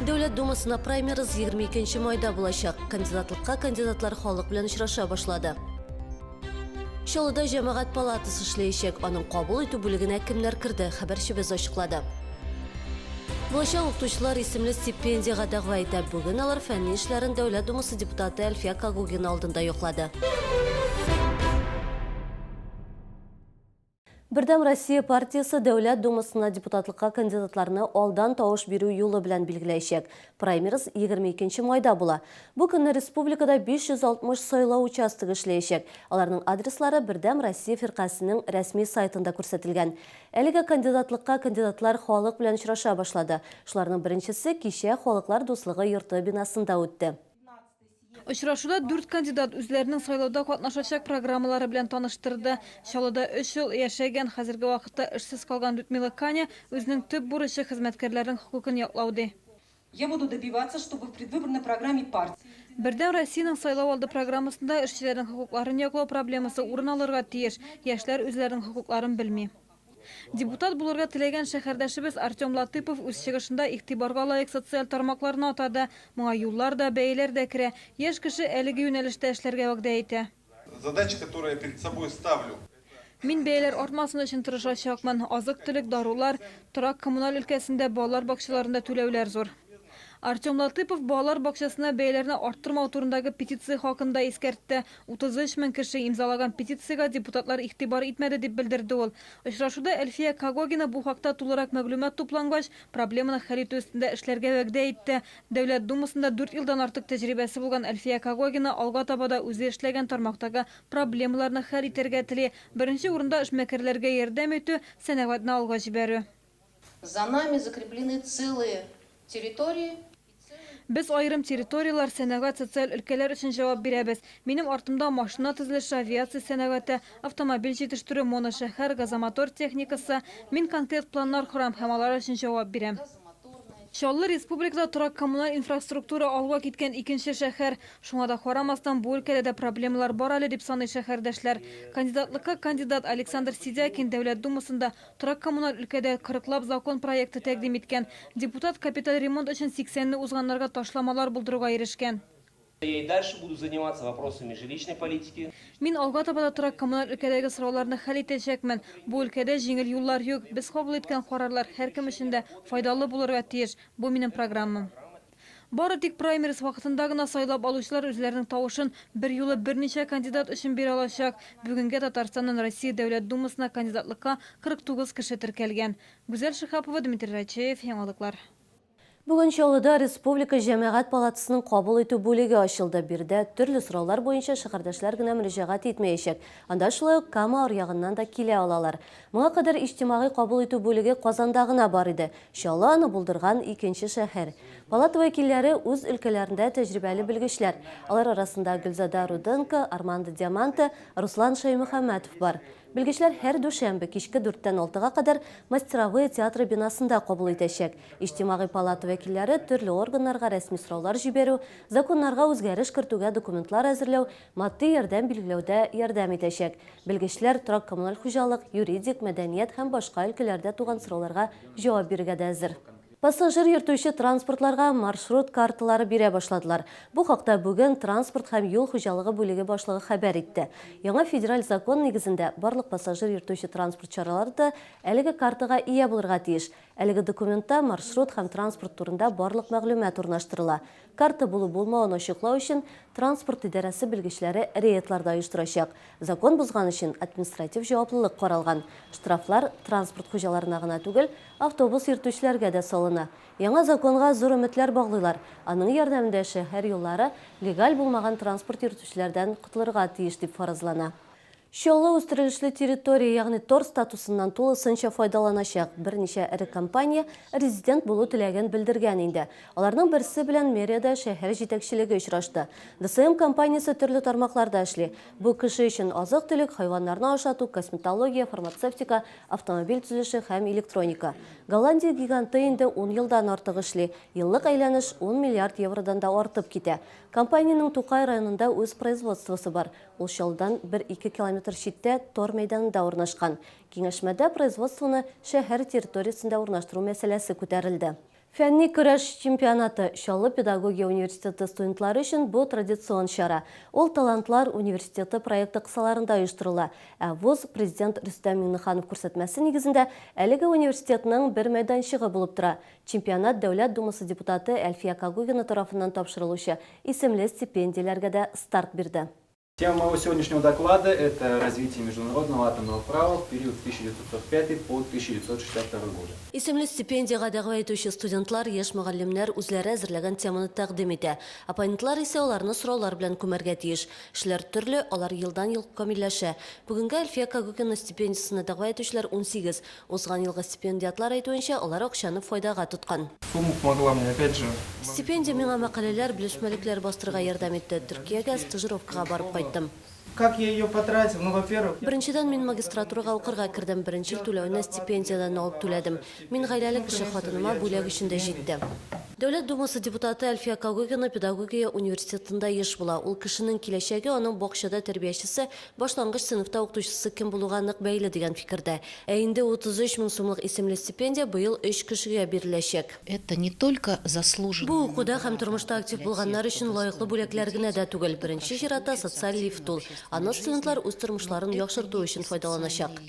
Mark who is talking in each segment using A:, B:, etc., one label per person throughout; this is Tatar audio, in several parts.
A: Дәүләт Думасына праймерыз 22 майда булачак. Кандидатлыкка кандидатлар халык белән очраша башлады. Чаллыда җәмәгать палатасы эшләячәк. Аның кабул итү бүлегенә кемнәр керде, хәбәрчебез ачыклады. Булачак укытучылар исемле стипендиягә дәгъва итә. Бүген алар фәнни эшләрен Дәүләт Думасы депутаты Әлфия Кагугина алдында яклады. Бердәм Россия партиясе Дәүләт Думасына депутатлыкка кандидатларны алдан тавыш бирү юлы белән билгеләячәк. Праймериз 22 майда була. Бу көнне республикада 560 сайлау участогы эшләячәк. Аларның адреслары Бердәм Россия фиркасенең рәсми сайтында күрсәтелгән. Әлегә кандидатлыкка кандидатлар халык белән очраша башлады. Шуларның беренчесе кичә Халыклар дуслыгы йорты бинасында үтте.
B: Очрашуда дүрт кандидат үзләренең сайлауда катнашачак программалары белән таныштырды. Чаллыда өч ел яшәгән, хәзерге вакытта эшсез калган Людмила Каня үзенең төп бурычы, хезмәткәрләрнең хокукын яклау, ди. Я буду
C: добиваться, чтобы в предвыборной программе партии. Бердәм Россиянең
B: сайлау алды программасында эшчеләрнең хокукларын яклау проблемасы урын алырга тиеш, яшьләр үзләренең хокукларын белми. Депутат булырга теләгән шәһәрдәшебез Артем Латыпов үз чыгышында игътибарга лаек социаль тармакларны атады. Моңа юллар да, бәяләр дә керә. Яшь кеше әлеге юнәлештә эшләргә вәгъдә итә. Задача, которая
D: перед собой ставлю. Мин бәяләр
B: артмасын өчен тырышачакмын. Азык-төлек, дарулар, торак-коммуналь өлкәсендә, балалар бакчаларында түләүләр зур. Артем Латыпов балалар бакчасына бәяләрне арттырмау турындагы петиция хакында искәртте. 33 мең кеше имзалаган петициягә депутатлар игътибар итмәде, дип белдерде ул. Очрашуда Әлфия Когогина бу хакта тулырак мәгълүмат туплангач, проблеманы хәл итү өстендә эшләргә вәгъдә итте. Дәүләт Думасында дүрт елдан артык тәҗрибәсе булган Әлфия Когогина алга таба да үзе эшләгән тармактагы проблемаларны хәл итәргә тели, беренче урында эшмәкәрләргә ярдәм итү, сәнәгатьне алга җибәрү. За
E: нами закреплены целые территории.
B: Без аерым территорияләр, сәнәгать, социаль өлкәләр өчен җавап бирәбез. Минем артымда машина төзелеше, авиация сәнәгате, автомобиль җитештерү, моношәһәр, газомотор техникасы. Мин конкрет планнар корам һәм алар өчен җавап бирәм. Чаллы, республикада торак-коммуналь инфраструктура алга киткән икенче шәһәр. Шуңа да карамастан, бу өлкәдә дә проблемалар бар әле, дип саный шәһәрдәшләр. Кандидатлыкка кандидат Александр Сидякин Дәүләт Думасында Торак-коммуналь өлкәдә кырыклап закон проекты тәкъдим иткән. Депутат капиталь ремонт өчен сиксәнне узганнарга ташламалар булдыруга ирешкән. Я и дальше
F: буду заниматься вопросами жилищной политики. Мин алга таба да
B: торак-коммуналь өлкәдәге сорауларны хәл итәчәкмен. Бу өлкәдә җиңел юллар юк. Без кабул иткән карарлар һәркем өчен дә файдалы булырга тиеш. Бу минем программам. Бары тик праймериз вакытында гына сайлап алучылар үзләренең тавышын берьюлы берничә кандидат өчен бирә алачак. Бүгенгә Татарстаннан Россия Дәүләт Думасына кандидатлыкка 49 кеше теркәлгән. Гүзәл Шиһапова, Дмитрий Рачеев, Яңалыклар. Бүген
A: Чаллыда Республика Җәмәгать палатасының кабул итү бүлеге ачылды. Биредә төрле сораулар буенча шәһәрдәшләр генә мөрәҗәгать итмәячәк. Анда шулай ук Кама аръягыннан да килә алалар. Моңа кадәр иҗтимагый кабул итү бүлеге Казанда гына бар иде, Чаллы аны булдырган икенче шәһәр. Палата вәкилләре, үз өлкәләрендә тәҗрибәле белгечләр. Алар арасында Гөлзада Руденко, Армандо Диаманте, Руслан Шәймөхәммәтов бар. Белгечләр һәр дүшәмбе кичке дүрттән алтыга кадәр Мастеровые театры бинасында кабул итәчәк. Иҗтимагый палата вәкилләре төрле органнарга рәсми сораулар җибәрү, законнарга үзгәреш кертүгә документлар әзерләү, Матди ярдәм билгеләүдә ярдәм итәчәк. Белгечләр торак-коммуналь хуҗалык, юридик, мәдәният һәм башка өлкәләрдә туган сорауларга җавап бирергә дә әзер. Пассажир йөртүче транспортларга маршрут карталары бирә башладылар. Бу хакта бүген транспорт һәм юл хуҗалыгы бүлеге башлыгы хәбәр итте. Яңа федераль закон нигезендә барлык пассажир йөртүче транспорт чаралары да әлеге картага ия булырга тиеш. Әлеге документта маршрут һәм транспорт турында барлык мәгълүмат урнаштырыла. Карта булу-булмавын ачыклау өчен транспорт идарәсе белгечләре рейдлар да оештырачак. Закон бозган өчен административ җаваплылык каралган. Штрафлар транспорт хуҗаларына гына түгел, автобус йөртүчеләргә дә салына. Яңа законга зур өметләр баглыйлар. Аның ярдәмендә шәһәр юллары легаль булмаган транспорт йөртүчеләрдән котылырга тиеш дип фаразлана. Чаллы үстерелешле территория, ягъни тор статусыннан тулысынча файдаланачак. Берничә эре компания резидент булу теләген белдергән инде. Аларның берсе белән мэриядә шәһәр җитәкчелеге очрашты. ДСМ компаниясе төрле тармакларда эшли. Бу кеше өчен азык-төлек, хайваннарны ашату, косметология, фармацевтика, автомобиль төзелеше һәм электроника. Голландия гиганты инде ун елдан артык эшли, еллык әйләнеш ун миллиард евродан да артып китә. Компаниянең Тукай районында үз производствосы бар. Ул Чаллыдан бер-ике километр читтә тар мәйданында урнашкан. Киңәшмәдә производствоны шәһәр территориясендә урнаштыру мәсьәләсе күтәрелде. Фәнни көрәш чемпионаты, Чаллы педагогия университеты студентлары өчен бу традицион чара. Ул Талантлар университеты проекты кысаларында оештырыла, ә вуз, президент Рөстәм Миңнеханов күрсәтмәсе нигезендә, әлеге университетның бер мәйданчыгы булып тора. Чемпионат Дәүләт Думасы депутаты Әлфия Кагугина тарафыннан тапшырылучы исемле стипендияләргә дә старт бирде. Тема моего
G: сегодняшнего доклада, это Развитие международного атомного права в период с 1945 по 1962 годы. Исемле стипендиягә
A: дәгъва итүче студентлар, яшь мөгаллимнәр үзләре әзерләгән теманы тәкъдим итә. Оппонентлар исә аларны сораулар белән күмәргә тиеш. Эшләр төрле, алар елдан-ел камилләшә. Бүгенгә Әлфия Кагыкина стипендиясенә дәгъва итүчеләр унсигез. Узган елгы стипендиатлар әйтүенчә, алар акчаны файдага тоткан. Сумма помогла мне
G: опять же. Стипендия миңа
A: мәкаләләр, белешмәлекләр бастырырга ярдәм итте. Төркиягә стажировкага барып кайттым. Как я ее
G: потратил? Ну, во-первых. Беренчедән, мин магистратурага
A: укырга кердем, беренче ел түләвне стипендиядән алып түләдем. Мин гаиләле кеше, хатыныма бүләк өчен дә җитте. Дәүләт Думасы депутаты Әлфия Когыгина педагогия университетында еш була. Ул кешенең киләчәге, аның бакчада тәрбиячесе, Башлангыч сыйныфта укытучысы кем булуга нык бәйле дигән фикердә. Ә инде 33 мең сумлык исемле стипендия быел өч кешегә биреләчәк.
H: Бу укуда һәм тормышта
A: актив булганнар өчен лаеклы бүләкләр генә дә түгел, беренче чиратта социаль лифт ул. Аны студентлар үз тормышларын яхшырту өчен файдаланачак.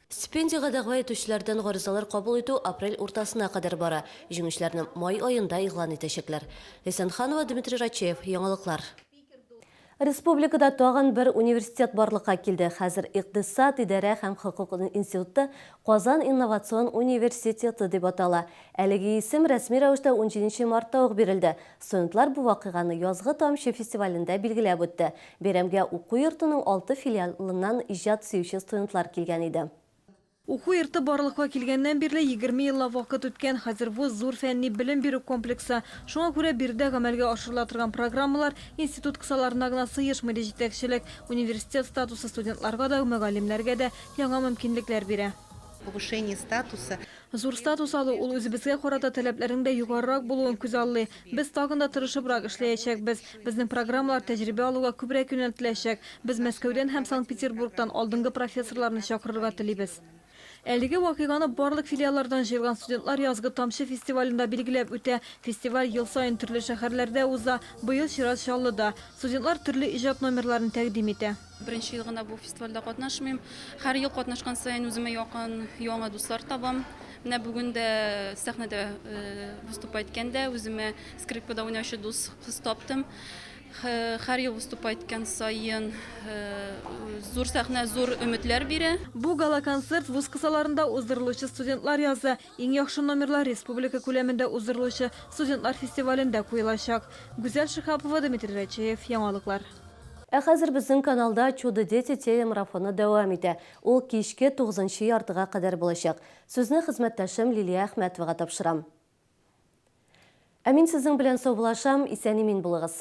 A: Стипендиягә дәгъва итүчеләрдән гаризалар кабул итү апрель уртасына кадәр бара. Җиңүчеләрне май аенда игълан итәчәкләр. Ләйсән Ханова, Дмитрий Рачеев, Яңалыклар. Республикада тагын бер университет барлыкка килде. Хәзер Икътисад, идарә һәм хокук институты Казан инновацион университеты дип атала. Әлеге исем рәсми рәвештә унҗиденче мартта ук бирелде. Студентлар бу вакыйганы Язгы тамчы фестивалендә билгеләп үтте. Бәйрәмгә уку йортының алты филиалыннан иҗат сөюче студентлар килгән иде. Уку йорты
B: барлыкка килгәннән бирле егерме еллап вакыт үткән. Хәзер вуз зур фәнни белем бирү комплексы. Шуңа күрә биредә гамәлгә ашырыла торган программалар институт кысаларына гына сыешмый, ди җитәкчелек. Университет статусы студентларга да, мөгаллимнәргә дә яңа мөмкинлекләр бирә. Повышение
H: статуса. Зур статус
B: алу, ул үзебезгә карата таләпләрнең дә югарырак булуын күзаллый. Без тагын да тырышыбрак эшләячәкбез. Безнең программалар тәҗрибә алуга күбрәк юнәлтеләчәк. Без Мәскәүдән һәм Санкт-Петербургтан алдынгы профессорларны чакырырга телибез. Әлеге вакыйганы барлык филиаллардан җыелган студентлар Язгы тамчы фестивалендә билгеләп үтә. Фестиваль ел саен төрле шәһәрләрдә уза, быел чират Чаллыда. Студентлар төрле иҗат номерларын тәкъдим итә. Беренче ел гына бу
I: фестивальдә катнашмыйм. Һәр ел катнашкан саен үземә якын яңа дуслар табам. Менә бүген дә сәхнәдә выступать иткәндә үземә скрипкада уйнаучы дус кыз таптым. Һәр ел выступать иткән саен зур сәхнә зур өметләр бирә. Бу гала-концерт
B: вуз кысаларында уздырылучы студентлар язы, Иң яхшы номерлар республика күләмендә уздырылучы студентлар фестивалендә куелачак. Гүзәл Шиһапова, Дмитрий Рәчеев, Яңалыклар. Ә хәзер
A: безнең каналда Чудо-дети телемарафоны дәвам итә. Ул кичке тугызынчы яртыга кадәр булачак. Сүзне хезмәттәшем Лилия Әхмәтовага тапшырам. Ә мин сезнең белән саубулашам, исән-имин булыгыз!